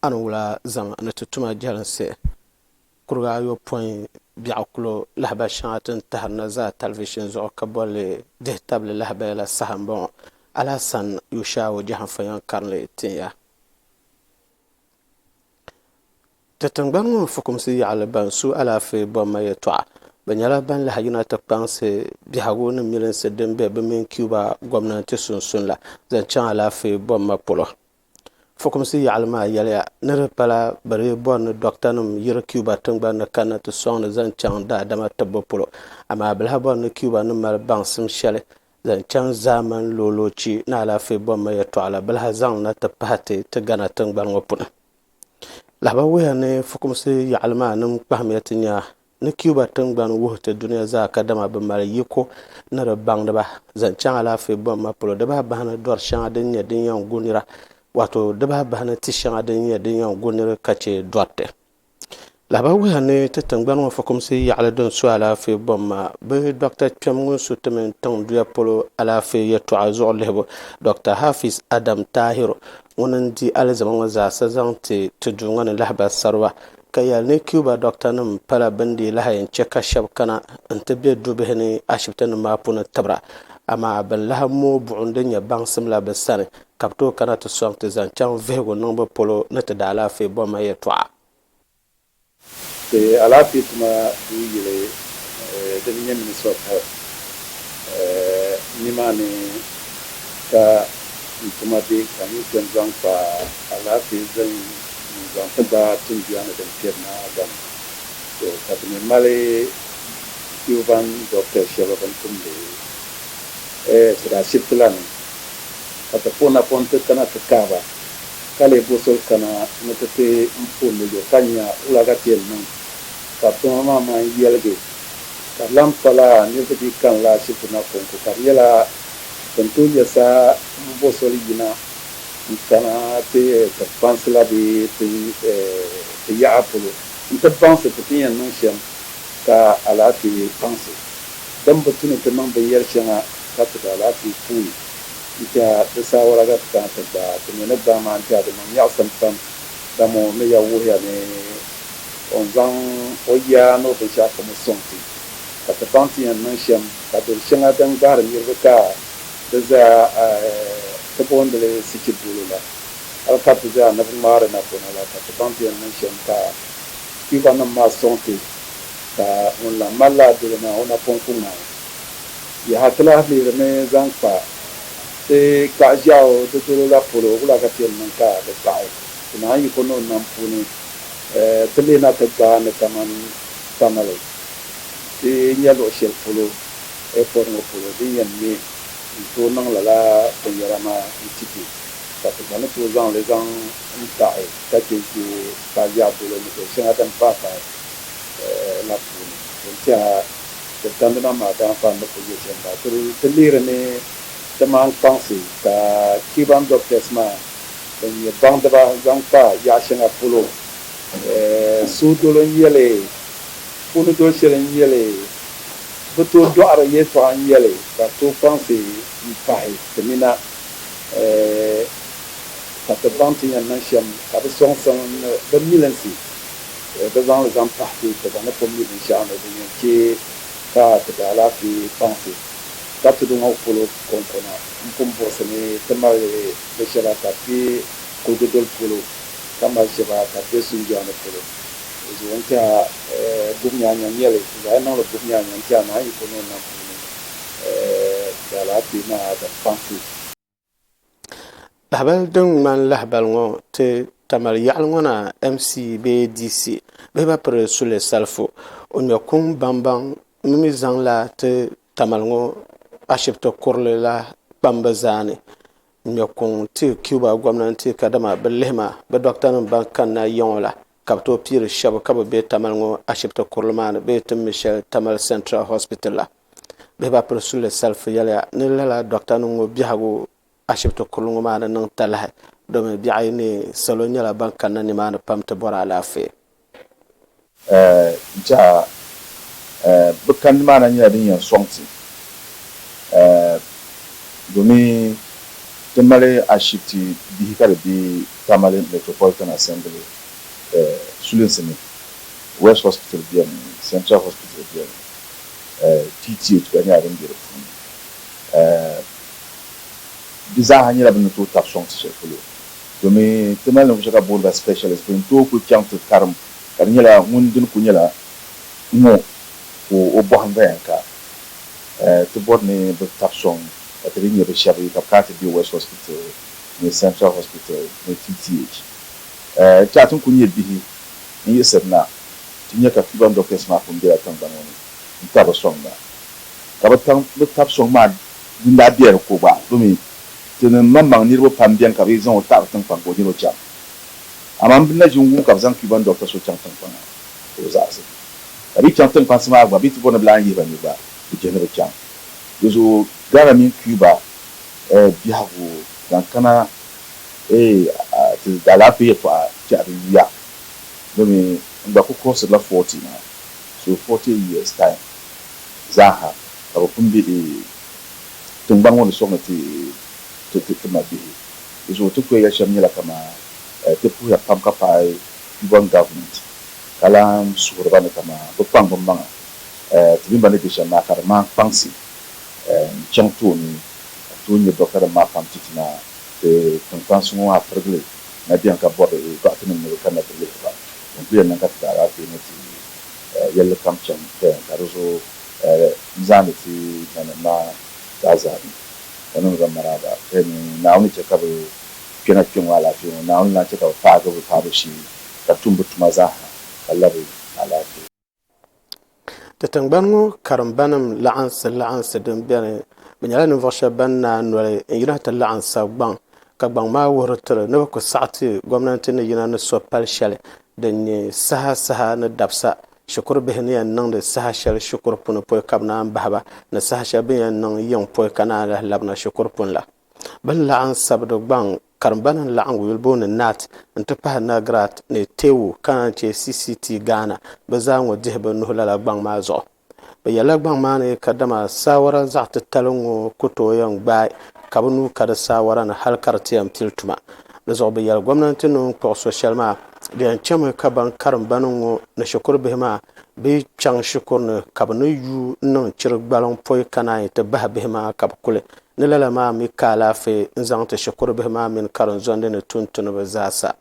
A ni wula zaŋ a ni ti tum a jɛlinsi kuriga ayopɔin biɛɣu kulo lahabali shɛŋa ti ni tahiri na zaa talivishini zuɣu ka boli li Dihitabli Lahabaya la saha m-bɔŋɔ. Alasan Yushaawo Jahanfa yɛn karinli tin ya. Ti tiŋgbani ŋɔ fukumsi yaɣili ban su alaafee bomma yɛltɔɣa, bɛ nyɛla ban lahi yina ti kpaŋsi biɛhigu ni milinsi din be bɛ mini Cuba gomnanti sunsuuni la zaŋ chaŋ alaafee bomma polo. Fukumsi yaɣili maa yɛliya ni di pala bɛ lee bɔri ni dɔɣitanim yiri Cuba tiŋgbani ni kanna ti sɔŋdi zaŋ chaŋ daadama tibbu polo, amaa bɛ lahi bɔri ni Cuba ni mali baŋsim shɛli zaŋ chaŋ zaamani looloochi ni alaafee bɔmma yɛtɔɣa la bɛ lahi zaŋ li na ti pahi ti ti Ghana tiŋgbani ŋɔ puuni. Lahabawuhiya ni fukumsi yaɣili maa nim kpahimiya ti nya Ni Cuba tingbani wuhi ti dunia zaa kadama bɛ mali yiko ni di baŋdiba zaŋ chaŋ alaafee bɔhimma polo, di bahi bahi ni dɔri shɛŋa din nyɛ din yɛn gu nira, waato di bahi bahi ni ti shɛŋa din nyɛ din yɛn gu niri ka chɛ dɔriti. Lahabaya wuhiya ni ti tingbani ŋɔ fukumsi yaɣili din su alaafee bɔhimma bɛ dɔkta kpɛm ŋun su ti mini tiŋ duya polo alaafee yɛtɔɣa zuɣu lihibu, Dɔkta Hafiz Adam Tahiru ŋun n-di alizama ŋɔ zaasa zaŋ ti ti duu ŋɔ ni lahabasariba ka yɛli ni Cuba dɔktanima pala bɛ ni dii lahi yɛn chɛ ka shɛba kana nti be dubihi ni ashibitinim maa puuni tibira, amaa bɛn lahi mooi buɣim din nyɛ baŋsim la bɛ sani, ka bɛ tooi kana ti sɔŋ ti zaŋ chaŋ vihigu niŋbu polo ni ti daalaafee bomma yɛltɔɣa. Ti alaafee tuma duu yili din nyɛ Ministry of Health nima ni ka n tuma be ka n yi kpe n-zaŋ kpa alaafee zani n zaŋ ti ba tinduya ni din kpɛri na gba ni. To, ka ti mi mali Cuban doctors shɛba bɛn tumdi sidi ashibiti la ni, ka ti pɔn napɔŋ nti kana ti kahi ba, ka lee bo soli kana ni ti ti n pundi yo ka nya wula ka ti yɛn niŋ ka bɛ tuma maa man yɛligi. Ka di lan pala nir ti dii kanila ashibiti na kɔŋko, ka di nyɛla bɛ ni tooi nyɛ saha m-bo soli yina. n kana ti ti kpansi la bee ti ti yaɣa polo nti baŋsi ti ti ni yɛn niŋ shɛm ka alaafee kpansi din bi tu ni ti niŋ binyɛri shɛŋa ka ti di alaafee puuni n-tɛha di saawara ka ti kana ti gbaai ti mɛ ni gbahi maa n-tɛha di niŋ nyaɣisim pam dama o ni ya wuhiya ni o ni zaŋ o yaa ni o binshɛɣu kam sɔŋ ti ka ti baŋ ti yɛn niŋ shɛm ka doli shɛŋa din gbahiri niriba ka Bɛ zaa a ti boondi li Sichibulo la, hal ka ti zaa ni bi ŋmaari napɔna la, ka ti baŋ ti yɛn niŋ shɛm ka Kpiikɔnim maa sɔŋ ti, ka ŋun lan mali lala dolo maa, o napɔŋ ku ŋmaai. Yaha! Ti lahi lihirimi zaŋ kpa ti kaɣiʒiɛɣu di dolo la polo, wula ka ti yɛn niŋ ka di taɣi ti naai yiko ni o nam puuni? Ti lihina ti gbaai ni kaman tamale ti nya luɣ shɛli polo. airport ŋɔ polo din yɛn me n-tooi niŋ lala binyɛra maa n-ti ti ka ti gba ni tooi zaŋ li zaŋ n-taɣi ka che ʒe ka yaɣi bolo ni bɛ shɛŋa din paai paai la puuni din tɛha ti dandina maa daanfaan ni ku nyɛ shɛm maa. Ti lihiri ni ti maan kpaŋsi ka Cuban doctors maa ban nyɛ baŋdiba zaŋ kpa yaɣi shɛŋa polo suhudolo n-nyɛ li, puuni doli shɛli n-nyɛ li. Bɛ tooi dɔɣiri yɛltɔɣa n-yɛli, Ka ti kpaŋsi m-pahi ti ni na, ka ti baŋ ti ni yɛn niŋ shɛm. Ka bɛ sɔŋsim ni bɛ milinsi bɛ zaŋ li zaŋ pahi ti, ti gba ni pun mi binshɛɣu ni din yɛn chɛ ka ti daalaafee kpaŋsi. Ka tudu ŋɔ polo kɔŋkɔna m-pun buɣisi ni ti mali bɛ shɛba ka bɛ be kuligu doli polo, ka mali shɛba ka bɛ be sunjɔɣu ni polo. O zuɣu n-ti a gubnyaanyan yɛli, Ti zaa niŋla gubnyaanyan n-ti a naayiko ni o nam puuni, ti alaafee maa bi kpaŋ ti. Lahabali din ŋmani lahabali ŋɔ ti Tamale yaɣili ŋɔ na MC bee DC bee ba piri suli salifu. O ŋmɛ kuŋ baŋbaŋ mi mi zaŋ la ti Tamale ŋɔ ashibiti kurili la kpambu zaa ni ŋmɛ kuŋ ti Cuba gomnanti kadama bi lihi ma bi dɔktanim ban kanna ya ŋɔ la. Ka bɛ tooi piiri shɛba ka bɛ be Tamale ŋɔ ashibiti kurili maa ni bee ti mi shɛli Tamale Central Hospital la. Bɛ ba piri Sule Salifu yɛliya ni lala dɔktanim ŋɔ biɛhigu ashibiti kurili ŋɔ maa ni niŋ talahi domi biɛɣu yi neei salo nyɛla ban kanna nimaani pam ti bɔri alaafee. N tiɛha bɛ kani maa na nyɛla din yɛn sɔŋ ti domi ti mali ashibiti bihi ka di be Tamale Metropolitan Assembly sulinsi ni, West Hospital beni, Central Hospital beni, TTH gba nyɛla din be di puuni. Di zaaha nyɛla bɛ ni tooi tabi sɔŋ ti shɛli polo domin ti mali ninvuɣ shɛba ka bɛ booni ba specialist bɛn tooi kuli chaŋ ti karim ka di nyɛla ŋun dini kuli nyɛla ŋɔ ka o bɔhim gba yɛn ka ti bɔri ni bɛ tabi sɔŋ ka ti dii nyɛ bɛ shɛba ka bɛ kana ti be West Hospital ni Central Hospital ni TTH. Di chaŋ ti ni kuli nyɛ bihi n-yiɣisiri na ti nya ka Cuban doctors maa pun bela tiŋgbani ŋɔ ni n-tabi sɔŋ na. Ka bɛ taŋ bɛ tabi sɔŋ maa din daa bela di ko gba domi ti ni maŋmaŋ niriba pam beni ka bɛ zaŋ o taɣiri tiŋkpaŋ ka o nir o chaŋ. Amaa m bi na ʒin wum ka bɛ zaŋ Cuban doctor so chaŋ tiŋkpaŋa ka o zaɣisi. Ka bɛ chaŋ tiŋkpansi maa gba bɛ ti bɔri ni bɛ lahi yihi ba ni gba bɛ je ni bɛ chaŋ. Di zuɣu Ghana mini Cuba Ɛ biɛhigu zaŋ kana Ɛ ti alaafee yɛltɔɣa kpɛhiri yuya bɛ mi n gba kuli kurɔsirila forty maa so forty years time zaaha ka bɛ pun be Ɛ tiŋgbani ŋɔ ni suɣi ni ti ti ti mabihi di zuɣu ti kuyayɛli shɛm nyɛla kaman Ɛ ti puhiya pam ka paai Cuban government ka lahi suhiriba ni kaman bɛ kpaŋ bɛ maŋa Ɛ ti mini ba ni be shɛm maa ka di ŋmaai kpaŋsi chaŋ ti o ni o tooi nyɛ dɔktanim maa pam ti ti na ti tiŋkpansi ŋɔ maa pirigili na beni ka bɔri dɔɣitinim ni bɛ kanna ti lihiri ba din ku yɛn niŋ ka ti ti alaafee ni ti yɛlli kam chaŋ Pɛɛn ka di zuɣu n zaani ti nanim maa zaa zaa ni ka niŋdi ba maraaba Pɛɛn ni Naawuni ni chɛ ka bɛ kpɛna kpe ŋɔ alaafee ŋɔ Naawuni ni lan chɛ ka bɛ paagi bɛ paabu shee ka tum bɛ tuma zaa ha ka labi alaafee. Ti tingbani ŋɔ karimbanim laɣinsi laɣinsi din beni, bɛ nyɛla ninvuɣ shɛba ban naai noli n-yina ti laɣim sabi gbaŋ ka gbaŋ maa wuhiri ti ni bɛ ku saɣi ti gomnanti ni yina ni so pal shɛli din nyɛ saha saha ni dabisa shikuru bihi ni yɛn niŋdi saha shɛli shikuru puni pɔi ka bɛ naan bahi ba ni saha shɛli bɛ ni yɛn niŋ yiŋ pɔi ka naan lahi labina shikuru puni la. Bɛ ni laɣim Sabido gbaŋ karimba ni laɣim Wilbo ni Nat n-ti pahi Nagrat ni Tewu ka naan chɛ CCT Ghana bɛ zaa ŋɔ dihi bɛ nuhi lala gbaŋ maa zuɣu. Bɛ yɛlila gbaŋ maa ni kadama saawara zaɣ titali ŋ-ŋɔ ku tooi yɛn gbaai ka bɛ nuu ka di saawara ni hal ka di ti yɛn pili tuma. Di zuɣu bɛ yɛli gomnanti ni o ni kpuɣi so shɛli maa di yɛn chami ka baŋ karimba ni ŋɔ ni shikuru bihi maa bi chaŋ shikuru ni ka bɛ ni yuui n-niŋ chiri gbaliŋ poi ka naan yi ti bahi bihi maa ka bɛ kuli Ni lala maa mi ka alaafee n-zaŋ ti shikuru bihi maa mini karinzondi ni tuuntuniba zaa sa.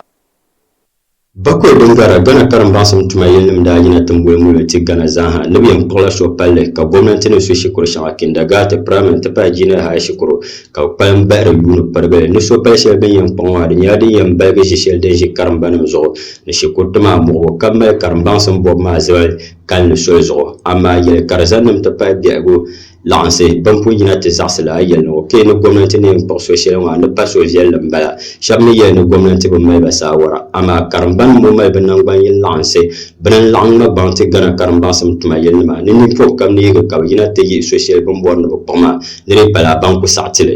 Bakɔi din garila Ghana karimbaŋsim tuma yilinim daa yina timboli muli ti Ghana zaa ha ni bɛ yɛn kpuɣila suhi palli ka gomnanti ni su shikuru shɛŋa kindagaati, praimari n-ti pahi jinia hai shikuru ka bɛ kpalim bahiri yuuni pirigili ni suhi pali shɛli bɛ ni yɛn kpuɣi maa di nyɛla din yɛn baligi ʒi shɛli din ʒi karimbanim zuɣu ni shikuriti maa muɣibu ka mali karimbaŋsim bɔbu maa zibali kalinli soli zuɣu amaa yɛlikarizanim ti pahi biɛhigu laɣinsi ban pun yina ti zaɣisi la yɛli ni o kpe ni gomnanti ni yɛn kpuɣi so shɛli maa ni pa suhuviɛlli m-bala. Shɛba mi yɛli ni gomnanti bi mali ba saawara amaa karimba nim ŋɔ mali bɛ naŋgban yini laɣinsi bini n-laɣim ŋma gbaŋ ti Ghana karimbaŋsim tuma yili nima ni ninpɔh kam ni yihi ka bɛ yina ti yihi so shɛli bini bɔri ni bɛ kpuɣi maa ni di pala ban ku saɣi ti li.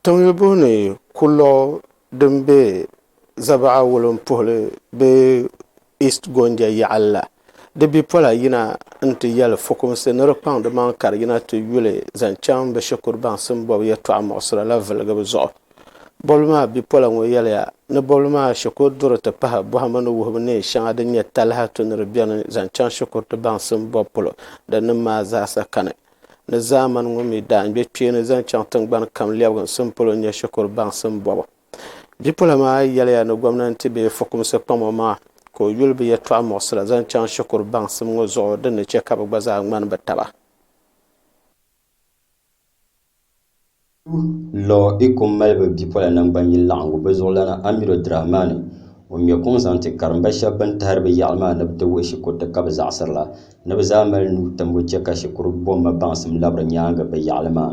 Tiŋlibo ni kulɔɣu din be Zabaɣa wulimpuhili bee East Gonja yaɣili la, di bipola yina n-ti yɛli fukumsi ni di kpaŋ di maŋa ka di yina ti yuli zaŋ chaŋ bɛ shikuru baŋsim bɔbu yɛltɔɣa muɣisira la vilgibu zuɣu. Bɔbili maa bipola ŋɔ yɛliya ni bɔbili maa shikuru duri ti pahi bɔhimbu ni wuhibu neen shɛŋa din nyɛ talahi tu ni di beni zaŋ chaŋ shikuru ti baŋsim bɔbu polo din niŋ maa zaasa kani ni zaamani ŋɔ mi daan gbe kpeeni zaŋ chaŋ tiŋgbani kam lɛbiginsim polo n-nyɛ shikuru baŋsim bɔbu. Bipola maa yɛliya ni gomnanti bee fukumsi kpamo maŋa ka o yuli bɛ yɛltɔɣa muɣisira zaŋ chaŋ shikuru baŋsim ŋɔ zuɣu din ni chɛ ka bɛ gba zaa ŋmani bɛ taba. Lɔ Ikum malibu bipola naŋgban yini laɣingu bɛ zuɣulana Amiru Dramani ŋun ŋmɛ kuŋ zaŋ ti karimba shɛba bɛn tahiri bɛ yaɣili maa ni bɛ ti wuhi shikuruti ka bɛ zaɣisiri la ni bɛ zaa mali nuu timbu chɛ ka shikuru bomma baŋsim labiri nyaaŋa bɛ yaɣili maa.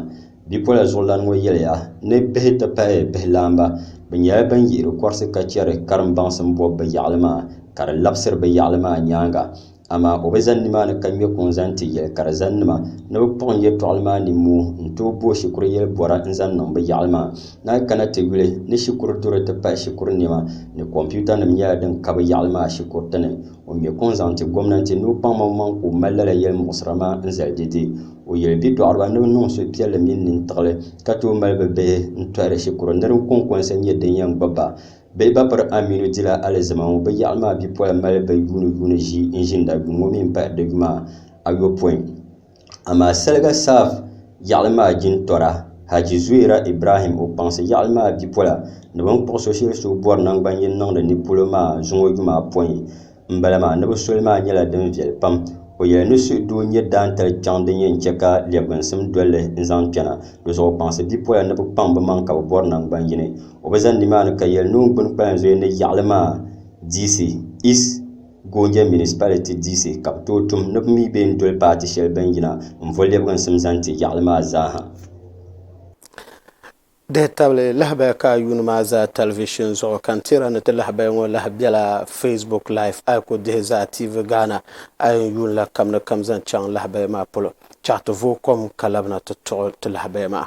Bipola zuɣulana ŋɔ yɛliya ni bihi ti pahi bihilaamba bɛ nyɛla bɛn yihiri kɔrisi ka chɛri karim baŋsim bɔbu bɛ yaɣili maa ka di labisiri bɛ yaɣili maa nyaaŋa Amaa o bi zani nimaani ka ŋme kuŋ zaŋ ti yɛlikarizaninima ni bɛ kpuɣi n yɛtɔɣili maa nimmuu n-tooi bo shikuru yɛli bɔra n-zaŋ niŋ bɛ yaɣili maa. Naai kana ti yuli ni shikuru duri ti pahi shikuru nɛma ni kɔmpiutanim nyɛla din ka bɛ yaɣili maa shikuriti ni. O ŋme kuŋ zaŋ ti gomnanti ni o kpaŋmaŋmaŋ ka o mali lala yɛlimuɣisira maa n-zali di di. O yɛli bidɔɣiriba ni bɛ niŋ suhupiɛlli mini nintiɣili ka tooi mali bɛ bihi n-tɔhiri shikuru nir n-kɔŋkɔnsa nyɛ din yɛn gbubi ba. Bɛ ba piri Aminu dila alizama ŋɔ bɛ yaɣili maa bipola mali bɛ yuuni yuuni ʒii n ʒinda yuŋ ŋɔ mi n pahi di yuma ayopɔin amaa saliga Saaf yaɣili maa jintɔra Haji Zuera Ibrahim o kpaŋsi yaɣili maa bipola ni bɛ ni kpuɣi so shɛli so bɔri nangban yini niŋdi ni polo maa zuŋɔ yuma apɔin n bala maa ni bi soli maa nyɛla din viɛli pam o yɛli ni suhu doo nyɛ daantali kpɛŋ din yɛn chɛ ka lɛbginsim dolli n zaŋ kpɛna di zuɣu kpaŋsi bipola ni bi kpaŋ bi maŋ ka bi bɔri naŋgban yini o bi ʒɛ nimaani ka yɛli ni o gbuni kpalan zuyu ni yaɣali maa diisi East Gonja Municipality diisi ka bi tooi tum ni bi mi bee n doli paati shɛli bini yina n vo lɛbginsim zaŋ ti yaɣali maa zaa ha. Dihi tabili lahabaya ka a yuuni maa zaa tɛlivishin zuɣu, ka n tiri a ni ti lahabaya ŋɔ lahi bela Facebook Live. A yi ku dihi zaa TV Ghana, a yɛn yuun la kam ni kam zaŋ chaŋ lahabaya maa polo. Chaɣ ti vooi kom ka labina ti tuɣi ti lahabaya maa.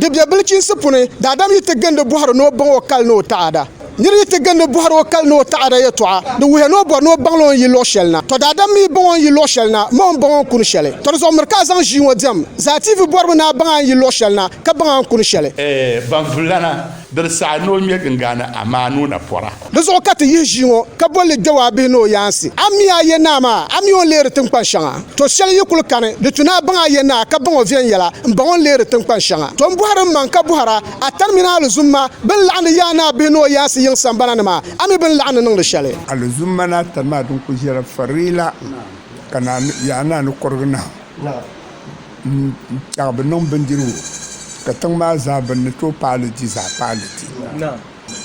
Di bɛ bilichiinsi puni, daadam yi ti gindi bɔhiri ni o baŋ o kali ni o taɣada. Nir yi ti gindi bɔhiri o kali ni o taɣada yɛtɔɣa, di wuhiya ni o bɔri ni o baŋla o ni yi luɣ shɛli na. Tɔ daadam mi yi baŋ o ni yi luɣ shɛli na, ma o ni baŋ o ni kuni shɛli. Tɔ di zuɣu miri ka a zaŋ ʒii ŋɔ diɛm. Zaatiivi bɔribu ni a baŋ a ni yi luɣ shɛli na, ka baŋ a ni kuni shɛli. Baŋ vullana Diri saha ni o ŋme gingaani Amaanu na pɔra. Di zuɣu ka ti yihi ʒii ŋɔ ka boli li Dawaa bihi ni o yaansi. A mi a Yenaa maa, a mi o ni leeri tiŋkpan shɛŋa. To shɛli yi kul kani, di tu ni a baŋ a Yenaa ka baŋ o viɛnyɛla, m-baŋ o ni leeri tiŋkpan shɛŋa. To m-bɔhiri mmaŋ ka bɔhir a, a tani mini a alizumma bɛn laɣindi yaai ni a bihi ni o yaansi yiŋ sambana ni maa, a mi bɛ ni laɣindi niŋdi shɛli. Alizumma ni a tani maa din kul ʒiɛla farila ka yaanaa ni kɔrigi nahu. N-kpɛɣi bi niŋ bindirigu, ka tiŋ maa zaa bɛ ni tooi paai li di zaa paai li di.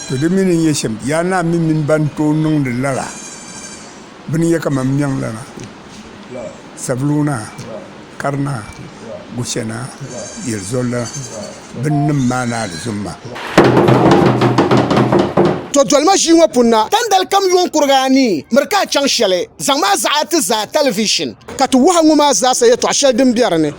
To di mi ni nyɛ shɛm, Yaa Naa mi mini bɛn tooi niŋdi lala bini yɛ ka mam niɛŋ la maa, Saviluu Naa, Kari Naa, Gushɛ Naa, Yelizol Naa. binnim maa ni alizumma. To dolima ʒii ŋɔ puuni na, tandali kam yuŋ kuriga anii, miri ka a chaŋ shɛli, zaŋ ma a zaɣi a ti zaa talivishin, ka ti wuhi a ŋɔ maa zaasa yɛtɔɣ shɛli din be di ni.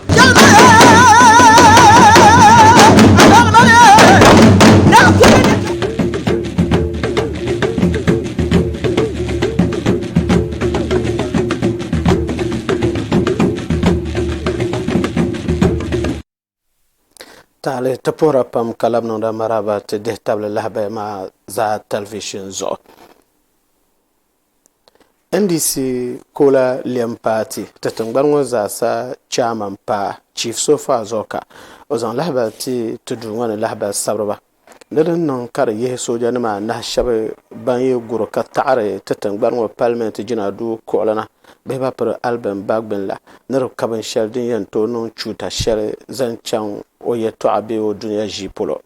Taali ti puhira pam ka labi niŋda maraaba ti dihi tabili lahabaya maa zaa talivishini zuɣu ndc kola lɛm paati ti tingbani ŋɔ zaa sa chaamani paa chief so far zuɣu ka o zaŋ lahabali ti ti duu ŋɔ ni lahabali sabiriba Ni di ni niŋ ka di yihi soojanima anahi shɛba ban yi guri ka taɣiri ti tiŋgbani ŋɔ palimenti jina duu kuɣili na bee ba piri Alvin Bagbin la ni di ka binshɛli din yɛn tooi niŋ chuuta shɛli zaŋ chaŋ o yɛtɔɣa bee o dunia ʒii polo.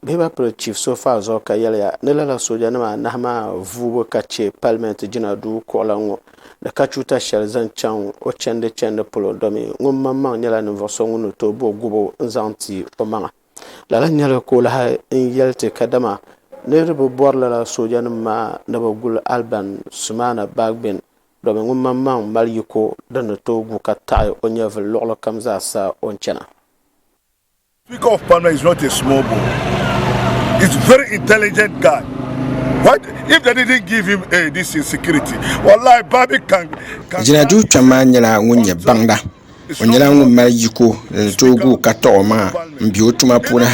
Bee ba piri Chief Sofaa zuɣu ka yɛliya ni lala soojanima anahi maa vuubu ka che palimenti jina duu kuɣila ŋɔ ni ka chuuta shɛli zaŋ chaŋ o chɛndi chɛndi polo domin ŋun maŋmaŋ nyɛla ninvuɣ so ŋun ni tooi bo gubu n-zaŋ ti o maŋa. Lala nyɛla ka o lahi n yɛli ti kadama niriba bɔri lala soojanima maa ni bɛ guli Alban Sumana Bagbin domin ŋun maŋmaŋ mali yiko din ni tooi gu ka taɣi o nyɛvili luɣilikam zaa sa o ni chana. Speaker of parliament is not a small boy is very intelligent guy why if they didn't give him a this insecurity wallahi babi can can Jina duu kpɛm maa nyɛla ŋun nyɛ baŋda O nyɛla ŋun mali yiko ni ni tooi gu ka taɣi o maŋa n bɛ o tuma puuni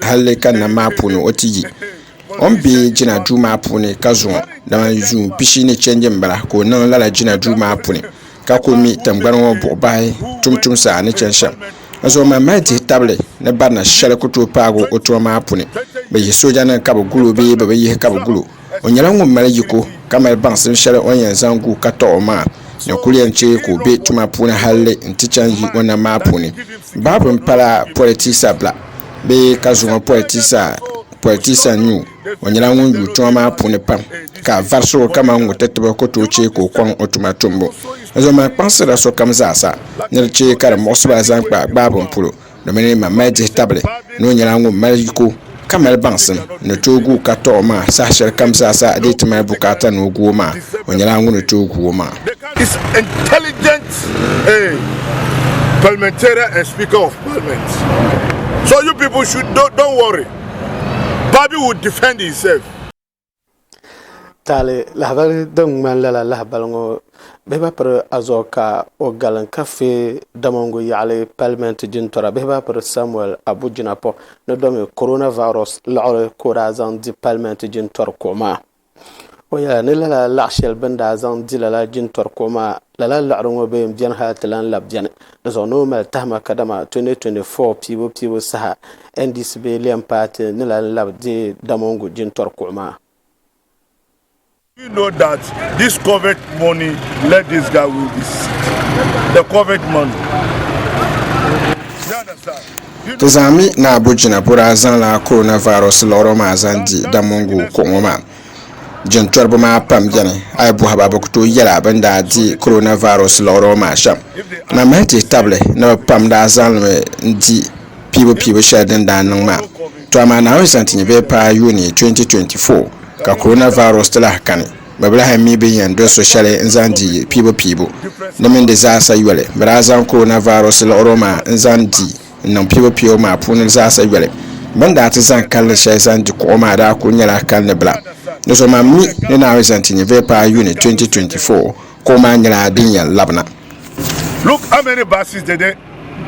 halli ka nam maa puuni o ti yi o ni bɛ jina duu maa puuni ka zuŋɔ dama yuun pishi ni chɛndi n bala ka o niŋ lala jina duu maa puuni ka ku mi tingbani ŋɔ buɣi bahi tuuntumsa ni chɛni shɛm n zuŋɔ maa mali dihi tabili ni barina shɛli ku tooi paagi o tuma maa puuni bi yihi sooja nim ka bi gulo bee bi bi yihi ka bi gulo O nyɛla ŋun mali yiko ka mali baŋsim shɛli o ni yɛn zaŋ gu ka tɔɣi o maa ni kuli yɛn chɛ ka o be tuma puuni halli nti chaŋ yi o nam maa puuni. Baabu ni pala politisa bila bee ka zuŋɔ politisa politisa n-nyɛ o. O nyɛla ŋun yuui tuma maa puuni pam ka vari so kaman ŋ-ŋɔ ti tibi ku tooi chɛ ka o kɔŋ o tuma tumbu. N zom maa kpaŋsirila sokam zaasa ni di chɛ ka di muɣisiba zaŋ kpa gbaabum polo. Domini ma mali dihi tabili ni o nyɛla ŋun mali yiko ka mali baŋsim ni tooi gu o ka tɔɣi o maa saha shɛli kam zaa sa dee ti mali bukaata ni o gu o maa o nyɛla ŋuni tooi gu o maa. is intelligent a parliamentarian and speaker of parliament so you people should don't, don't worry Barbie will defend himself. Taali lahabali din ŋmani lala lahabali ŋɔ bihi ba piri azuɣu ka o galin ka fee damongu yaɣali palimenti jintɔra bihi ba piri Samuel Abu Jinapor ni domi Corona Virus liɣiri ka o daa zaŋ di palimenti jintɔri kuɣu maa. O yɛla ni lala laɣishɛli bɛ ni daa zaŋ di lala jintɔri kuɣu maa Lala liɣiri ŋɔ bee m-beni hal ti lan labi beni di zuɣu ni o mali tahima kadama 2024 piibu piibu saha NDC bee lɛm paati ni lan labi deei Damongu jintɔri kuɣu maa. Do you know that this covet money let this guy win this seat? The covet money. Do you understand? Do you Ti know? zaŋ mi ni Abu Jinapura zaŋla coronavirus liɣiri maa zaŋ di Damongu kuɣu ŋɔ maa. jintɔriba maa pam beni a yi bɔhi ba bɛ ku tooi yɛla bɛ ni daa di coronavirus liɣiri ŋɔ maa shɛm na m-mali ti yi tabili ni bɛ pam daa zaŋlimi n-di piibupiibu shɛli din daa niŋ maa tɔ amaa Naawuni zaŋ ti nya bee paai Yuni 2024 ka coronavirus ti lahi kani bɛ bi lahi mi bɛ ni yɛn doli so shɛli n-zaŋ di piibupiibu di mini di zaasa yoli bɛ daa zaŋ coronavirus liɣiri ŋɔ maa n-zaŋ di n niŋ piibu piibu maa puuni zaasa yoli bini daa ti zaŋ kalinli shɛli zaŋ di kuɣu maa daa kuli nyɛla kalinli bila ni so man mi ni naawuni zaŋ ti nyɛ vɛpaa yuni 2024 kuɣu maa nyɛla din yɛn labina Look how many buses did they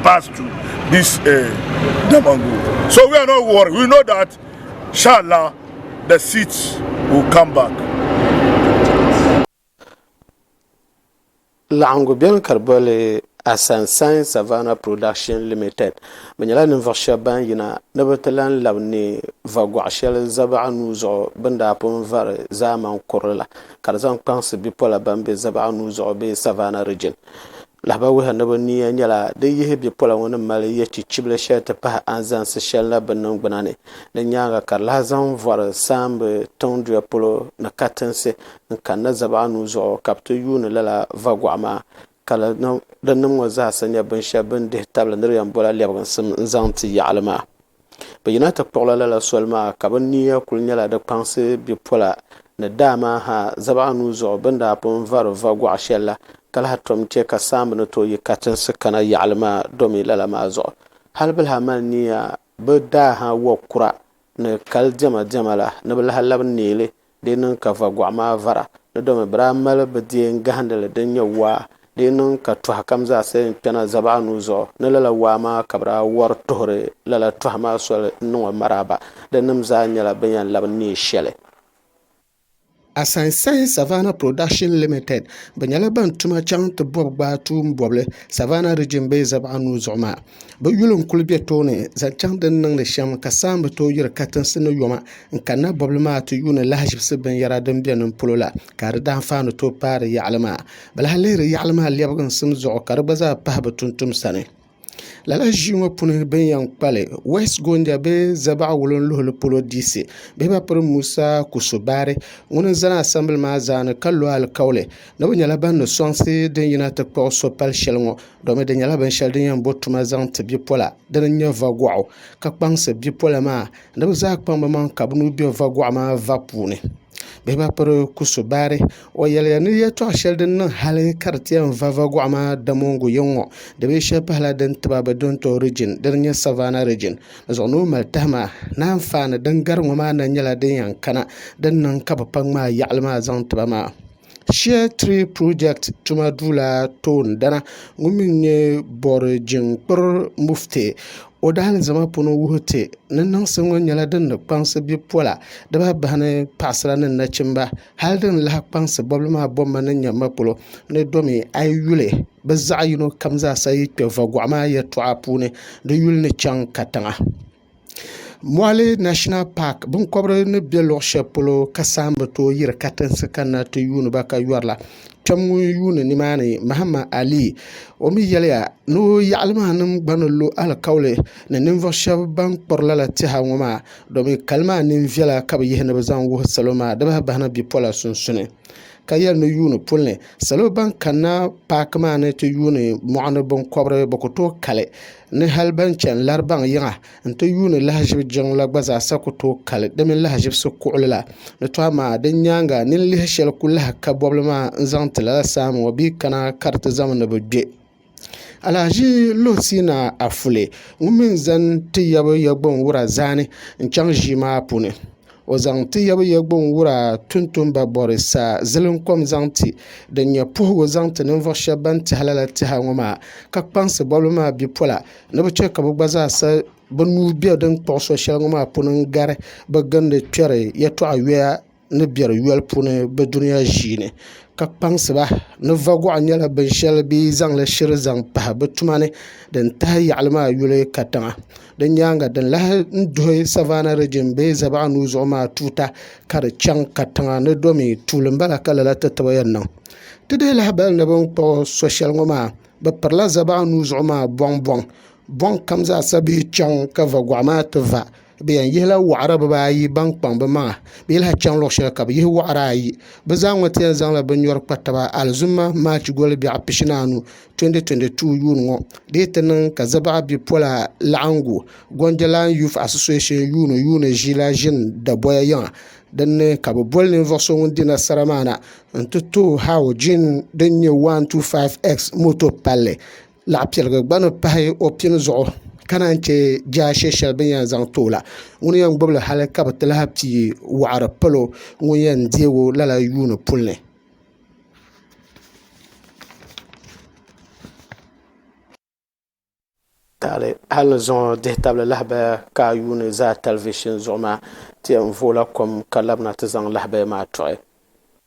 pass to this uh, eh, Damangu. So we are not worried. We know that, inshallah, the seats will come back. Laɣingu beni ka di boli Asansan Savannah Production Limited bɛ nyɛla ninvuɣu shɛba ban yina ni bɛ ti lan labi neei va gɔɣ shɛli Zabaɣa nuu zuɣu bɛ ni daa pun vari zaamaŋ kurili la ka di zaŋ kpaŋsi bipola ban be Zabaɣa nuu zuɣu bee Savannah Region. Lahabali wuhi ni bɛ niya nyɛla din yihi bipola ŋɔ ni mali yɛchichibili shɛli ti pahi anzaŋsi shɛli la bɛ niŋgbuna ni. Di nyaaŋa ka di lahi zaŋ vɔri saambi tiŋduya polo ni katinsi n-kanna zabaɣa nuu zuɣu ka bɛ ti yuuni lala vagɔɣu maa. Ka lala dinnim ŋɔ zaasa nyɛ binshɛli bɛ ni dihi tabili ni di yɛn bola lɛbiginsim n-zaŋ ti yaɣili maa. Bɛ yina ti kpuɣila lala soli maa ka bɛ niya kuli nyɛla di kpaŋsi bipola ni daa maa ha zaba anuu zuɣu bɛ ni daa pun vari va gɔɣ shɛli la ka lahi tom chɛ ka saamba ni tooi yi katinsi kana yaɣili maa domi lala maa zuɣu. Hal bɛ lahi mali niya bɛ daa ha wa kura ni kali diɛma diɛma la ni bɛ lahi labi neei li Di niŋ ka vagɔɣ maa vara ni domi bɛ daa mali bɛ deem gahindi li din nyɛ waa. Di niŋ ka tɔha kam zaa silim kpɛna zaba anu zuɣu ni lala waa maa ka bɛ daa wari tuhiri lala tɔha maa soli n-niŋ o maraaba. Di nim zaa nyɛla bɛ ni yɛn labi neei shɛli. Asansahin Savannah Production Limited bɛ nyɛla ban tuma chaŋ ti bɔbi gbaai tuum bɔbili Savannah Region bee zaba anu zuɣu maa. Bɛ yuli n-kul be tooni zaŋ chaŋ din niŋdi shɛm ka saha m-bi tooi yiri katinsi ni yoma n-kanna bɔbili maa ti yuuni lahiʒibisi binyɛra din be nim polo la, ka di daanfaani tooi paai di yaɣili maa. Bɛ lahi lihiri yaɣili maa lɛbiginsim zuɣu ka di gba zaa pahi bɛ tuntum sani. Lala ʒii ŋɔ puuni bɛ ni yɛn kpa li, West Gonja bee Zabaɣa wulinluhili polo diisi bee ba piri Musa Kuso Baari ŋun n-zani asɛmbili maa zaa ni ka lo alikauli ni bɛ nyɛla ban ni sɔŋsi din yina ti kpuɣi so pal shɛli ŋɔ. domi di nyɛla binshɛli din yɛn bo tuma zaŋ ti bipola dini n-nyɛ va gɔɣu ka kpaŋsi bipola maa ni bɛ zaa kpaŋ bɛ maŋa ka bɛ nuu be va gɔɣu maa va puuni bihi ba piri kusubaari o yɛliya ni yɛltɔɣ shɛli din niŋ hali ka di ti yɛn va va gɔɣu maa damongu yiŋ ŋɔ di bee shɛli pahila din tiba bɛ duntɔ riijin dini n-nyɛ savaana riijin di zuɣu ni o mali tahi maa ni anfaani din gari ŋɔ maa na nyɛla din yɛn kana din niŋ ka bɛ pa ŋmaai yaɣili maa zaŋ ti ba maa Share Tree Project tuma duu la toondana ŋun mi nyɛ Bɔri Jiŋkpiri Mufti o daalizama puuni wuhi ti ni niŋsi ŋɔ nyɛla din ni kpaŋsi bipola dibaa bahi ni paɣasara ni nachimba hali din lahi kpaŋsi bɔbili maa bɔmma ni nyɛ ma polo ni domi a yi yuli bɛ zaɣ'yino kam zaasa yi kpe vagɔɣi maa yɛltɔɣa puuni di yuli ni chaŋ katiŋa. Moɣali National Park binkobiri ni bɛ luɣ shɛli polo ka saha ni bi tooi yiri katinsi kanna ti yuuni ba ka yɔri la kpɛm ŋun yuuni nimaani Mahama Ali o mi yɛliya ni o yaɣili maa nim gba ni lo alikauli ni ninvuɣ shɛb ban kpuri lala tɛha ŋɔ maa domin kali maa neen viɛla ka bɛ yihi ni bɛ zaŋ wuhi salo maa di bahi bahi na bipola sunsuni. ka yɛli ni yuuni puli ni salo ban kanna paaki maa ni ti yuuni mɔɣuni binkɔbiri bɛ ku tooi kali ni hali ban chani Laribaŋ yiŋa n-ti yuuni lahiʒibu jiŋli la gba zaasa ku tooi kali di mini lahiʒibisi kuɣili la ni tɔha maa di nyaaŋa nini lihi shɛli ku lahi ka bɔbili maa n-zaŋ ti lala saha mi ŋɔ bɛ yi kana ka di ti zami ni bɛ gbe Alahaji Lusina Afule ŋun mii ni zani ti yabi Yagbun wura zaani n chaŋ ʒii maa puuni o zaŋ ti yabi Yagbun wura tumtumba bori sa zilim kom zaŋ ti din nyɛ puhigu zaŋ ti ninvuɣu shɛba ban tehi lala teha ŋɔ maa ka kpaŋsi bɔbigu maa bipola ni bi che ka bi gba zaa sa bi nuu bɛ din kpuɣi so shɛli ŋɔ maa puuni n gari bi gindi kperi yɛltɔɣa yoya ni biɛri yoli puuni bi dunia ʒii ni ka kpaŋsi ba ni va guɣa nyɛla binshɛli bi ni zaŋli shiri zaŋ pahi bi tuma ni din tahi yaɣali maa yuli katiŋa di nyaanga din lahi duhi savana riijin bee zabaɣa nuu zuɣu maa tuuta ka di chaŋ katiŋa ni do mii tuuli n bala ka lala ti tibi yɛn niŋ ti dihi lahabali ni bin kpuɣu so shɛli ŋɔ maa bi pirila zabaɣa nuu zuɣu maa bɔŋ bɔŋ bɔŋ kam zaa sa bee chaŋ ka va guɣa maa ti va bi yɛn yihila waɣara bibaayi ban kpaŋ bi maŋa bi yi lahi chaŋ luɣu shɛli ka bi yihi waɣara ayi bi zaa ŋɔ ti yɛn zaŋla bi nyɔri kpa taba alizuma maachi goli biɛɣu pishinaanu 2022 yuun ŋɔ dii ti niŋ ka Zabaɣa bipola laɣangu Gondilan Youth Association yuun yuuni ʒila ʒini dabɔya yiŋa din ni ka bi boli ninvuɣu so ŋun di nasara maa na n ti too Haojin din nyɛ 125X moto palli laɣipiɛligu gba ni pahi o pini zuɣu ka naan chɛ jaashɛ shɛli bɛ ni yɛn zaŋ ti o la, ŋuni yɛn gbubi li hali ka bɛ ti lahi pii wɔɣiri pal o ŋun yɛn deeg o lala yuuni puli ni. Taali hali ni zuŋɔ dihitabli lahabaya ka a yuuni zaa tɛlivishin zuɣu maa ti yɛn vooi la kom ka labina ti zaŋ lahabaya maa tɔɣi.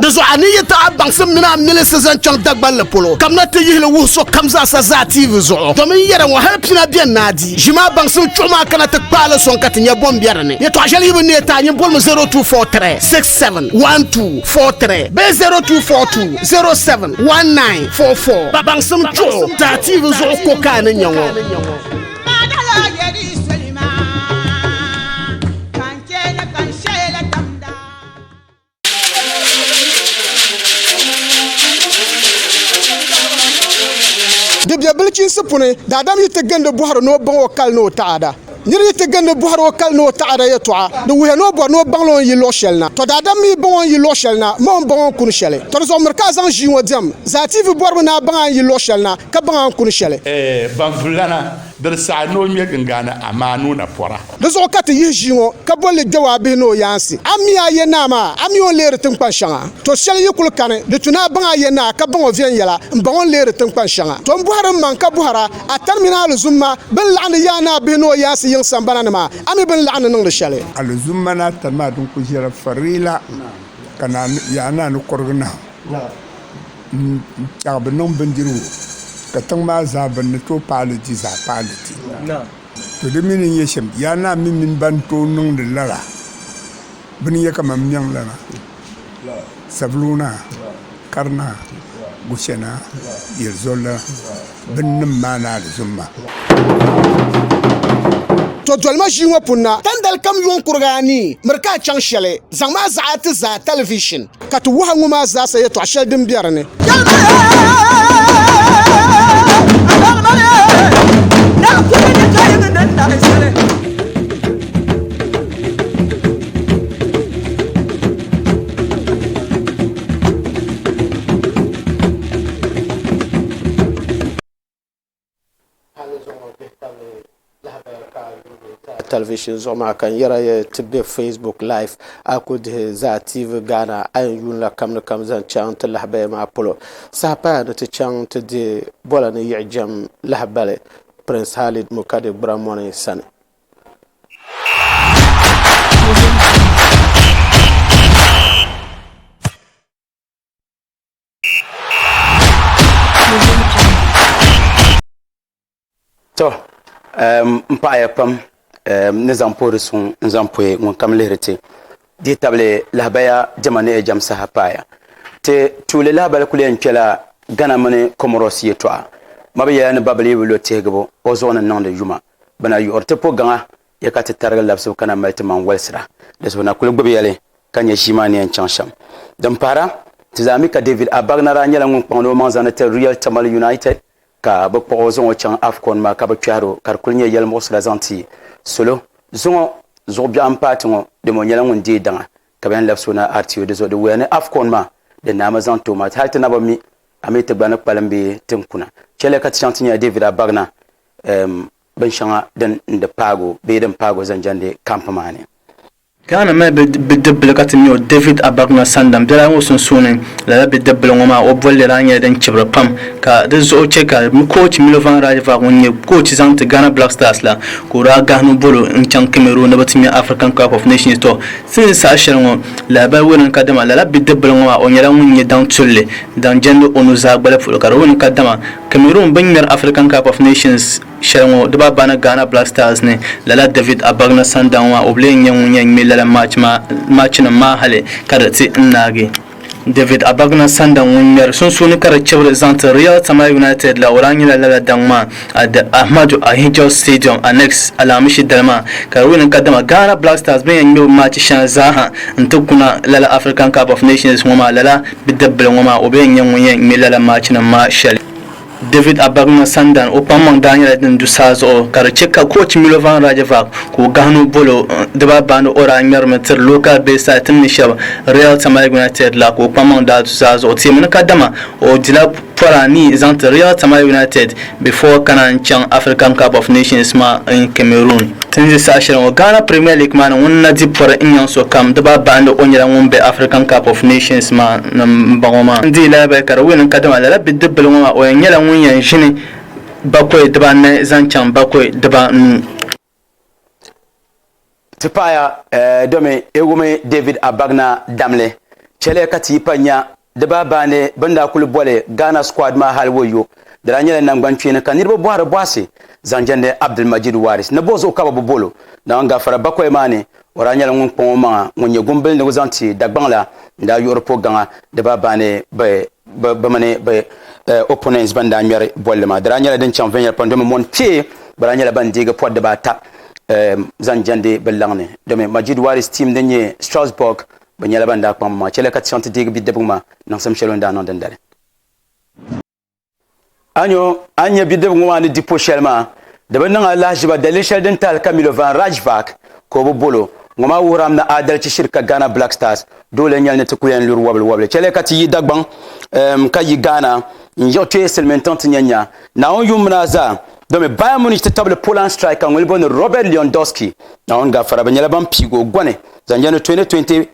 Di zuɣu a ni yi ti a baŋsim mini a milisi zaŋ chaŋ Dagbanli polo, kamina ti yihi li wuhi sokam zaa sa zaa TV zuɣu, domin yɛda ŋɔ hal pina beni ni a di. Ʒim a baŋsim chuɣu maa kana ti kpaai li sɔŋ ka ti nya bom be di ni. Yɛtɔɣ shɛli yi bi neei ti a nyin boli mi 0243 67 12 43 bee 0242 07 19 44. Baŋsim chuɣu ti a TV zuɣu ko ka a ni nya ŋɔ. Bibia bilichiinsi puuni daadam yi ti gindi bɔhiri ni o baŋ o kali ni o taada. Nir yi ti gindi bɔhiri o kali ni o taada yɛtɔɣa, di wuhiya ni o bɔri ni o baŋla o ni yi luɣ shɛli na. Tɔ daadam mi yi baŋ o ni yi luɣ shɛli na, ma o ni baŋ o ni kuni shɛli. Tɔ di zuɣu miri ka a zaŋ ʒii ŋɔ diɛm. Zaatiivi bɔribu ni a baŋ a ni yi luɣ shɛli na, ka baŋ a ni kuni shɛli. Baŋ vullana. Diri saha ni o ŋme gingani Amaanu na pɔra. Di zuɣu ka ti yihi ʒii ŋɔ ka boli li Dawaa bihi ni o yaansi. A mi a Yenaa maa, a mi o ni leeri tiŋkpan shɛŋa. To shɛli yi kul kani, di tu ni a baŋ a Yenaa ka baŋ o viɛnyɛla, m-baŋ o ni leeri tiŋkpan shɛŋa. To m-bɔhiri mmaŋ ka bɔhir a, a tani mini a alizumma bɛn laɣindi yaai ni a bihi ni o yaansi yiŋ sambana ni maa, a mi bɛ ni laɣindi niŋdi shɛli. Alizumma ni a tani maa din kul ʒiɛra farila, ka yaanaa ni kɔrigi nahim. N-chaŋ bɛ niŋ bindirigu, ka tiŋ maa zaa bɛ ni tooi paai li di zaa paai li di. To di mi ni nyɛ shɛm, yaa naa mi mini bɛn tooi niŋdi lala bɛ ni yɛ ka mani m-miŋ la na, Saviluu naa, Kari naa, Guchɛ naa, Yelizol naa. binnim maa ni alizumma. To dolima ʒii ŋɔ puuni na, tandali kam yuŋ kuriga anii, miri ka a chaŋ shɛli, zaŋ ma a zaɣi a ti zaa talivishin, ka ti wuhi a ŋɔ maa zaasa yɛtɔɣ shɛli din be di ni. talivishini zuɣu maa ka n yɛra yɛ ti bɛ facebook live a ku dihi zaa tv ghana a yɛn yuunila kam ni kam zaŋ chaŋ ti lahabaya maa polo saha paya ni ti chaŋ ti deei bɔla ni yiɣijɛm lahabali prince halid mukade gburamoni sani to n paɣaya pam ni zaŋ puhiri suŋ n zaŋ puhi ŋun kam lihiri ti di tabili lahabaya jɛma ni ɛjɛm saha paaya ti tuuli lahabali kuli yɛn kpɛla gana mini comoros yɛtɔɣa ma bi yɛla ni babili yi bi lo tihigibu o zuɣu ni niŋdi yuma Bɛ na yiɣiri ti po gaŋa ya ka ti tarigi labisibu ka na mali ti maŋ walisira. Di zuɣu na kuli gbibi ya li ka nya ʒii maa ni yɛn chaŋ shɛm. Din pahira, ti zaa mi ka David Abagna daa nyɛla ŋun kpaŋdi o maŋ zaŋdi tiri Real Tamale United ka bɛ kpuɣi o zaŋ o chaŋ Afcon maa ka bɛ kpɛhiri o ka di kuli nyɛ yɛlimuɣisira zaŋ ti salo. Zuŋɔ zuɣu biɛɣu m-paati ŋɔ dama o nyɛla ŋun deei daŋa ka bɛ yɛn labisi o na RTO. Di zuɣu di wuhiya ni Afcon maa din naa mi zaŋ ti o maa hali ti naba mi a mi ti gba ni kpalim bee ti ni kuna chɛliya ka ti chaŋ ti nya David Abagna um, binshɛŋa din di paag o bee din paag o zaŋ jɛndi kamp maa ni. Ghana mali bidibbil ka ti mi o David Abagna Sandam biɛla ŋɔ sunsuuni. Lala bidibbil ŋɔ maa o bolli daa nyɛla din chibiri pam ka di zuɣu chɛ ka koochi Milovan Rajevac ŋun nyɛ koochi zaŋ ti Ghana Black Stars la ka o daa gahi ni o bolo n-chaŋ Cameroon ni bɛ ti ŋmɛ African Cup of Nations. Tɔ! Ti ni saha shɛli ŋɔ lahibali wuni kadama lala bidibbil ŋɔ maa o nyɛla ŋun nyɛ daŋ tulli zaŋ jɛndi o nuzaa gbali polo ka di wuni kadama Cameroon bini ŋmɛri African Cup of Nations shɛli ŋɔ dibaa bani Ghana Black Stars ni, lala David Abagna Sandawn maa o bi lee nyɛ ŋun yɛn ŋme lala maachinim maa hali ka di ti n naagi. David Abagna Sandawn ŋun ŋmɛri sunsuuni ka di chibiri zaŋti Real Tamale United la o daa nyɛla lala daŋ maa at the Ahmadu Ahidjo Stadium Annex Alaamishi dali maa ka di wini kadama Ghana Black Stars bini yɛn ŋme bi maachi shɛŋa zaa ha n-ti kuna lala African Cup of Nations ŋɔ maa lala Bidibbil ŋɔ maa, o bee n-nyɛ ŋun yɛn ŋme lala maachinim maa shɛli? David Abagna Sandan, o kpaŋmaŋ daa nyɛla din du saa zuɣu ka di chɛ ka koochi Milovan Rajevac ka o gahino bolo dibaa baani o daa ŋmɛrimi tiri local Bayside tim ni shɛba Real Tamale United la ka o kpaŋmaŋ daa du saa zuɣu teemi ni kadama o dila Pɔra ni yi zaŋti Real Tamale United before kana n chaŋ African Cup of Nations maa in Cameroon. Tin zi saha shɛli ŋɔ Ghana Premier League maa ni ŋun na di pɔri n nyaŋ so kam di ba bahi ni o nyɛla ŋun be African Cup of Nations maa ni m bɔŋɔ maa. N dii lahi bahi ka di win n kadama lala bidib bili ŋɔ maa o yɛn nyɛla ŋun yɛn ʒini bakɔi di ba anahi zaŋ chaŋ bakɔi di ba nuu. Ti paɣaya eh, domi e wumi David Abagna damli chɛli ka ti yi pa nya di baa baani bini daa kuli boli Ghana squad maa hali woyo di daa nyɛla nangbani kpeeni ka niriba bɔhiri bɔhisi zaŋ jɛndi Abdulmajid Waris ni bo zuɣu ka bi bi bolo Naawuni gafara bakoya maa ni O daa nyɛla ŋun kpaŋ o maŋa ŋun nyɛ gumbili ni o zaŋ ti Dagbaŋ la n-daa yuɣiri po gaŋa di baa baani bɛ mini bɛ eh, opponents ban daa ŋmɛri bolli maa. Di daa nyɛla din chaŋ viɛnyɛla pam domi mɔni kpee gba daa nyɛla ban deegi pɔri di baa ata eh, zaŋ jɛndi bɛ laŋ ni domi Majid Waris team din nyɛ Strasbourg bɛ nyɛla ban daa kpaŋ bɛ maŋa chɛliya ka ti chaŋ ti deegi bidibgi maa niŋsim shɛli o ni daa niŋ dindali. A nyo, a nya bidib ŋɔ maa ni di po shɛli maa, di bi niŋ a lahiʒiba daliri shɛli din tahili Camilo Van Raadsvaak ka o bi bol o. Ŋɔ maa wuhir a mi ni aadalichi shiri ka Ghana Black Stars doo lee nyɛli ni ti kul yɛn luri wɔbili wɔbili. Chɛliya ka ti yi Dagbaŋ eem ka yi Ghana n-yiɣi kpeei silimiintiŋ ti nya nya Naawuni yuŋ mini a zaa domi Bayern Munich ti tabili Poland striker ŋun li booni Robert Lewandowski. Naawuni gafara bɛ nyɛla ban piigi o gɔni zaŋ jɛndi 2020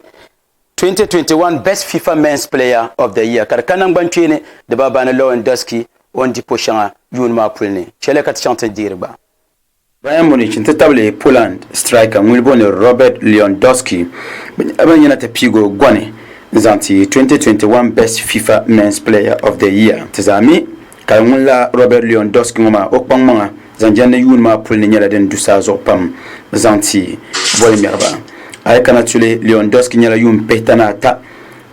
2021 Best FIFA Men's Player of the Year ka di ka nangban kpee ni dibaabani Lewandowski o ni di po shɛŋa yuun maa puli ni, chɛliya ka ti chaŋ ti ni deeri gba. Bayern Munich n-ti tabili Poland striker ŋun booni Robert Lewandowski bɛ nyɛla ban yina ti piigi o gɔni n-zaŋ ti 2021 Best FIFA Men's Player of the Year ti zaa mi. Ka ŋun la Robert Leon Dusk ŋɔ maa, o kpaŋ maŋa zaŋ jɛndi yuun maa puli ni nyɛla din du saa zuɣu pam zaŋ ti boli ŋmɛriba. A yi kana tuli, Leon Dusk nyɛla yuun pihita ni ata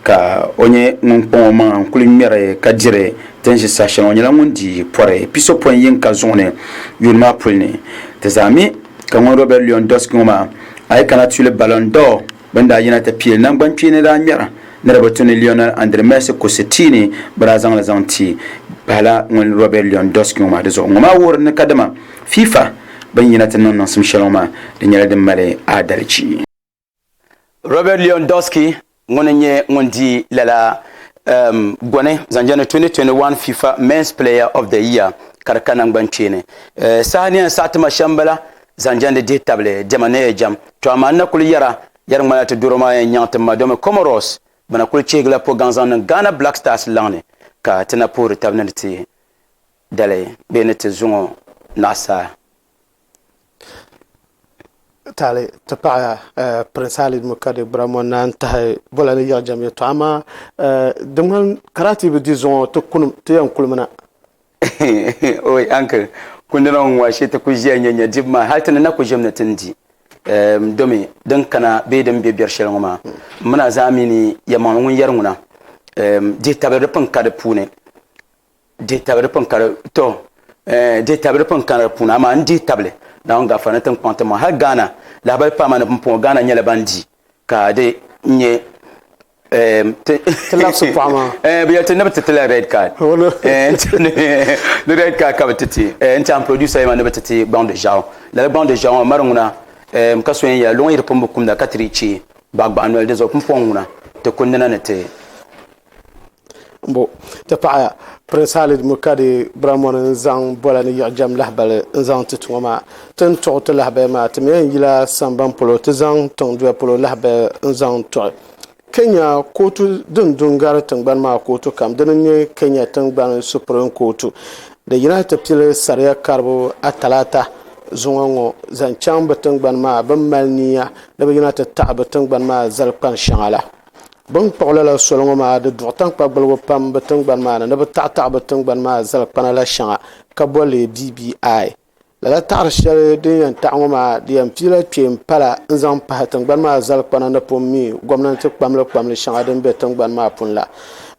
ka o nyɛ ŋun kpaŋ o maŋa n-kuli ŋmɛri ka diri din ʒi saha shɛŋa. O nyɛla ŋun di pɔri pisopɔin yiŋka zuɣu ni yuun maa puli ni. Ti zaa mi ka ŋun Robert Leon Dusk ŋɔ maa, a yi kana tuli Ballon d'Or. Bɛ ni daa yina ti pili nangbankpeeni daa ŋmɛra ni di bi tu ni Lionel Andre Messi kusi tia ni bɛ daa zaŋ li zaŋ ti pahila ŋun Robert Lewandowski ŋɔ maa. Dizuɣu ŋɔ maa wuhiri ni kadama FIFA bɛ ni yina ti niŋ niŋsim shɛli ŋɔ maa di nyɛla din mali aadalichi. Robert Lewandowski ŋun n nyɛ ŋun di lala um goni zaŋ jɛndi 2021 FIFA Men's Player of the Year ka di ka nangbankpeeni. Eh, saha ni yɛn saɣi ti ma shɛm bala Zaŋ jandi dihi tabili dɛma ni ɛjam. To amaa n na kuli yɛra, yɛri ŋmanila ti doro maa yɛn nyaŋ ti ma domi Comoros bɛ na kuli chihigila po gaŋ zaŋ niŋ Ghana Black Stars laŋ ni ka ti na puhiri tab ni ti dali bee ni ti zuŋɔ naɣisaa. Tali ti paɣa Prince Ali Mukade Bramo na n tahi bola ni yiɣijam ya to amaa di ŋmani Karati bi di zuŋɔ ti kunim ti yɛn kuli mina. oi uncle kundina ŋɔ ŋɔ shi ti ku ʒiya nyɛ nyɛ dibu maa hali ti ni na ku ʒim ni ti ni di ehm, domi din kana bee din be biɛri shɛli ŋɔ maa mina zaa mi ni yɛmaŋli ŋun yɛri ŋuna ehm, dihi tabiri di pun ka di puuni dihi tabiri di pun ka di to eh, dihi tabiri di pun ka di puuni amaa n dihi tabili naawuni gafara ni tinkpaŋ ti maŋ hali Ghana lahabali paama ni pumpɔŋɔ Ghana nyɛla ban di ka di nyɛ Ehm, ti labsi paɣa maa eh, bi yɛli ti ni bi ti ti la red card oh, eh, ni red card ka bi ti ti eh, n tiɛhi producer yɛma ni bi ti ti gbaŋ di ʒiɛɣu lala gbaŋ di ʒiɛɣu maa mari ŋuna ehm, ka so yɛn yɛla luŋ yi di pun bi kumda ka ti di chɛ gbaɣagbaɣa noli di zuɣu pumpɔŋ ŋuna ti kundina ni ti Bo ti paɣi Prince Halid Mukadi Bramoni n zaŋ bola ni yiɣijɛm lahibali n zaŋ ti tuŋɔ maa. Ti ni tuɣi ti lahabaya maa, ti mi yɛn yila samban polo ti zaŋ tiŋduya polo lahabaya n zaŋ tuɣi. Kenya kootu din du n gari tingbani maa kootu kam dini n nyɛ Kenya tingbani Supreme kootu di yina ti pili saria karibu a talaata zuŋɔ ŋɔ zaŋ chaŋ bi tingbani maa bini mali niya ni bi yina ti taɣi bi tingbani maa zali kpani shɛŋa la. Bɛ ni kpuɣi lala soli ŋɔ maa, di duɣi taŋkpa gbaligu pam bɛ tiŋgbani maa ni ni bɛ taɣitaɣi bɛ tiŋgbani maa zal kpana la shɛŋa ka bɔ li BBI. Lala taɣiri shɛli din yɛn taɣi ŋɔ maa di yɛn piila kpeen pala n-zaŋ pahi tiŋgbani maa zal kpana ni pun mi gomnanti kpamli kpamli shɛŋa din be tiŋgbani maa pun la.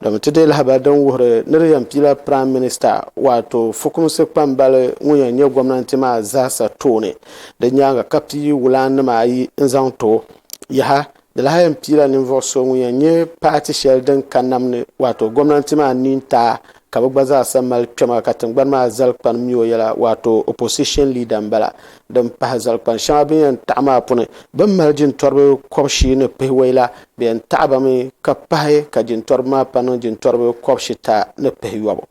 Domi ti deei lahabali din wuhiri ni di yɛn piila Praim Minista waato fukumsi kpambali ŋun yɛn nyɛ gomnanti maa zaasa tooni di nyaaŋa ka pii wulaannima ayi n-zaŋ ti o. Yaha! Di lahi yɛn piila ninvuɣu so ŋun yɛn nyɛ paati shɛli din ka nam ni waato gomnanti maa ni n-taai ka bɛ gba zaasa mali kpɛma ka tingbani maa zalikpani mi o yɛla waato opposition leader m-bala. Din pahi zalikpani shɛŋa bɛ ni yɛn taɣi maa puni, bɛ ni mali jintɔriba kɔb'shii ni pihiwɔi la, bɛ yɛn taɣi ba mi ka pahi ka jintɔriba maa pa niŋ jintɔriba kɔb'shita ni pihiyɔbu.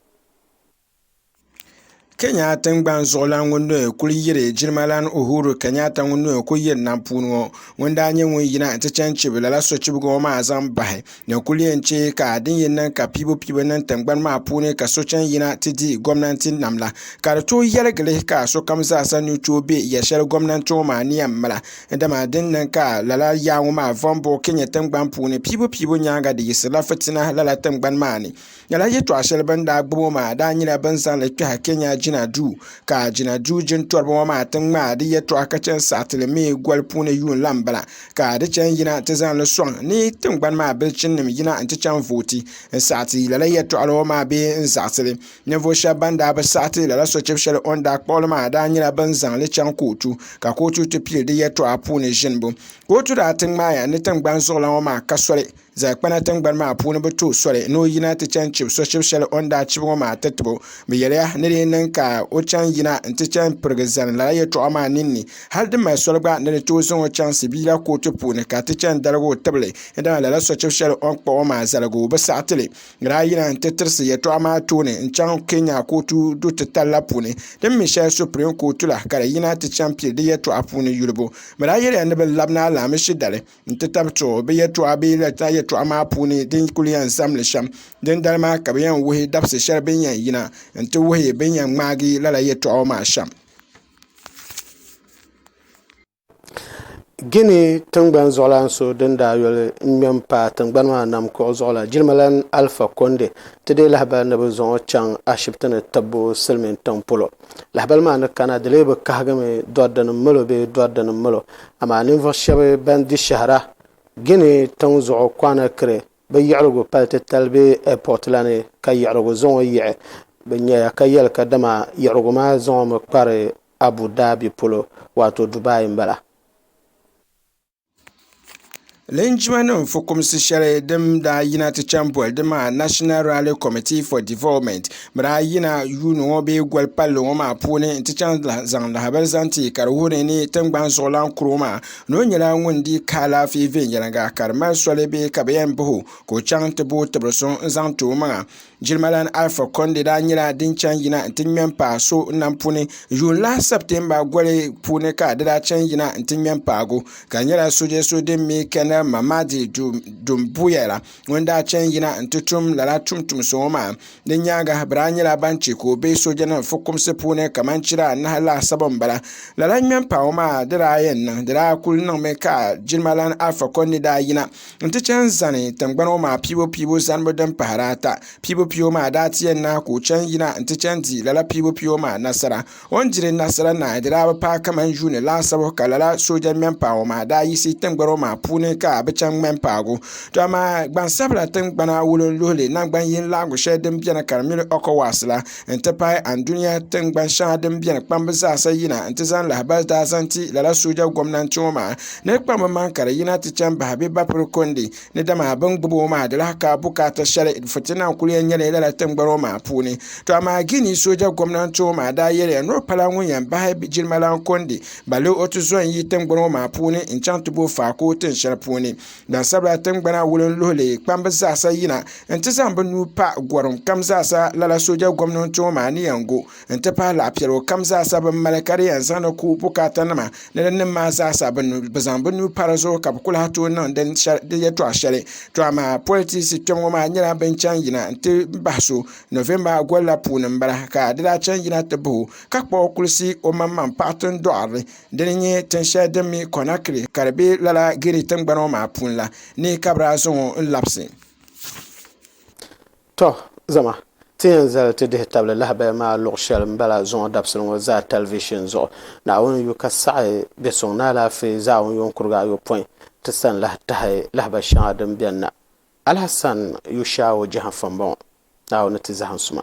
Kenya tingbani zuɣulan ŋun ni kuli yiri jilimalana Uhuru Kenyatta ŋun ni kuli yiri nam puuni ŋɔ ŋun daa nyɛ ŋun yina nti chaŋ chibi lala sochibigi ŋɔ maa zaŋ bahi din kuli yɛn che ka din yɛn niŋ ka piibupiibu niŋ tingbani maa puuni ka so chaŋ yina ti di gɔmnanti nam la ka di tooi yɛligi li ka sokam zaa sa ni tooi be yɛl shɛli gɔmnanti ŋɔ maa ni yɛn mala dama din niŋ ka lala yaa ŋɔ maa vom bo Kenya tingbani puuni piibupiibu nyaaŋa di yiɣisirila fitina lala tingbani maa ni. Lala yɛltɔɣa shɛli bini daa gbubi o maa daa nyɛla bin zaŋli kpɛhi Kenya jina duu ka jina duu jintɔriba ŋɔ maa ti ŋmaai di yɛltɔɣa ka chɛn saɣiti li mi goli puuni yuun lan bala ka di chɛn yina ti zaŋli sɔŋ ni tiŋgbani maa bilichini nim yina n ti chɛn vooti n saɣiti lala yɛltɔɣa la ŋɔ maa bee n zaɣisi li ninvuɣu shɛba ban daa bi saɣiti lala sochɛbu shɛli o ni daa kpuɣi li maa daa nyɛla bin zaŋli chɛŋ kootu ka kootu ti pili di yɛltɔɣa puuni ʒinibu kootu daa ti ŋmaaya ni tiŋgbani zuɣulan ŋɔ maa ka soli Zaɣikpana tingbani maa puuni bi tuhi soli ni o yina ti chani chibi so chibi shɛli o ni daa chibi ŋɔ maa ti tibo. Bɛ yɛliya ni di niŋ ka o chaŋ yina nti chani pirigi zani lala yɛtɔɣa maa ninni, hali di mali soli gba ni di tooi zaŋ o chaŋ Sibiila kooti puuni ka ti chani daligi o tibili ni dama lala sochibi shɛli o ni kpuɣi o maa zaligu o bi saɣi ti li. Bɛ daa yina nti tirisi yɛtɔɣa maa tooni n-chaŋ Kenya kootu du'titali la puuni din mi shɛli Supreme Kootu la ka di yina ti chani pili di yɛtɔɣa puuni yulibu. Bɛ daa yɛliya ni bɛ labi ni alaamishi dali. n ti tabi to bi yɛltɔɣa bee latina yɛltɔɣa maa puuni din kuli yɛn zam li shɛm dindali maa ka bi yɛn wuhi dabisi shɛli bi ni yɛn yina n ti wuhi bi ni yɛn ŋmaagi lala yɛltɔɣa maa shɛm Gini tingbani zuɣulan so din daa yoli ŋmɛ m-paai tingbani maa nam kuɣu zuɣu la, jilimalana Alfa Konde, ti deei lahibali ni bɛ zaŋ o chaŋ ashibiti ni tibbu silimiintiŋ polo. Lahibali maa ni kana, di lee bi kahigimi dɔridinim milo bee dɔridinim milo, Amaa ninvuɣ shɛb bɛn di shɛhira Gini tiŋ zuɣu Kɔnakiri bɛ yiɣirigu pali titali bee ɛpɔt la ni ka yiɣirigu zaŋ o yiɣi bɛ nyaya ka yɛli kadama yiɣirigu maa zaŋ o mi kpari Abu Daabi polo, waato Dubai m-bala. Linjima nim fukumsi shɛli din daa yina ti chaŋ boli di maa National Rally Committee for Development bi daa yina yuuni ŋɔ bee goli palli ŋɔ maa puuni n ti chaŋ zaŋ lahabali zaŋ ti ka di wuhi ni tingbani zuɣulan kuro maa ni o nyɛla ŋun dii ka alaafee viɛnyɛlinga ka di mali soli bee ka bi yɛn bahi o ka o chaŋ ti booi tibiri so n zaŋ ti o maŋa Jilimalana Alpha Conde daa nyɛla din chaŋ yina n ti ŋmɛ paai so nam puuni yuun lahi September goli puuni ka di daa chaŋ yina n ti ŋmɛ paagu ka di nyɛla soja so din mi Colonel Mamadi Doumbouya la ŋun daa chaŋ yina n ti tum lala tumtum so ŋɔ maa di nyaanga bɛ daa nyɛla ban che ka o be soja nim fukumsi puuni kamani chira anahi laasabu n bala lala ŋmɛ paagu maa di daa yɛn niŋ di daa kuli niŋmi ka Jilimalana Alpha Conde daa yina n ti chɛn zani tingbana ŋɔ maa piibu piibu zanibu din pahiri ata piibu piibu maa daa ti yɛn naai ka o chɛn yina n ti chɛn di lala piibu piibu maa nasara o ni diri nasara naai di daa bi paai kamani yuuni laasabu ka lala sooja ŋmɛn paai ŋɔ maa daa yiɣisi tingbana ŋɔ maa puuni ka a bi chɛn ŋmɛn paagi o to amaa gbansabila tingbana wulinluhili naŋgban yini laɣingu shɛli din beni ka di mini Ecowas la n ti pahi Andunia tingbani shɛŋa din biɛni kpambi zaasa yina n ti zaŋ lahabali daa zaŋ ti lala sooja gomnanti ŋɔ maa ni di kpambi maŋ ka di yina ti chɛŋ bahi bɛ Bapuri Kondi ni dama bɛ ni gbubi o maa di lahi ka bukaata shɛli fitina n kuli yɛn nyɛli lala tingbani ŋɔ maa puuni to amaa Gini sooja gomnanti ŋɔ maa daa yɛliya ni o pala ŋun yɛn bahi jilimalan Kondi balle o ti zo n-yi tingbani ŋɔ maa puuni n-chaŋ ti bo Faako tin shɛli puuni. Gbansabila tingbana wulim luhili kpamba zaasa yina n ti zaŋ bɛ nuu pa gɔrim kam zaasa lala sooja gomnanti ŋɔ maa ni yɛn go n ti pahi laɣ'piɛligu kam zaasa bɛ ni mali ka di yɛn zaŋdi ku bukaatanima ni di nim maa zaasa bɛ zaŋ bɛ nuu pa di zuɣu ka bɛ ku lahi tooi niŋ di yɛltɔɣa shɛli to amaa politisi kpɛm ŋɔ maa nyɛla bɛn chaŋ yina n ti bahi so November gol la puuni m-bala ka di daa chaŋ yina ti bahi o ka kpuɣi kulisi o maŋmaŋ paɣa tindoɣirili Di ni nyɛ tin shɛli din mi Conakry ka di be lala Guinea tingbana ŋɔ maa puuni la ni ka bɛ daa zaŋ o n-labisi. Tɔ! Zama, ti yɛn zali ti dihi tabili lahabaya maa luɣ shɛli m-bala zuŋɔ dabisili ŋɔ zaa talivishin zuɣu. Naawuni yu ka saɣi bɛ suŋ ni alaafee zaawun yuŋkurigu ayopɔin ti sani lahi tahi lahabaya shɛŋa din beni na. Alhassan Yushaawo Jahanfa m-bɔŋɔ, Naawuni ni ti zahim suma.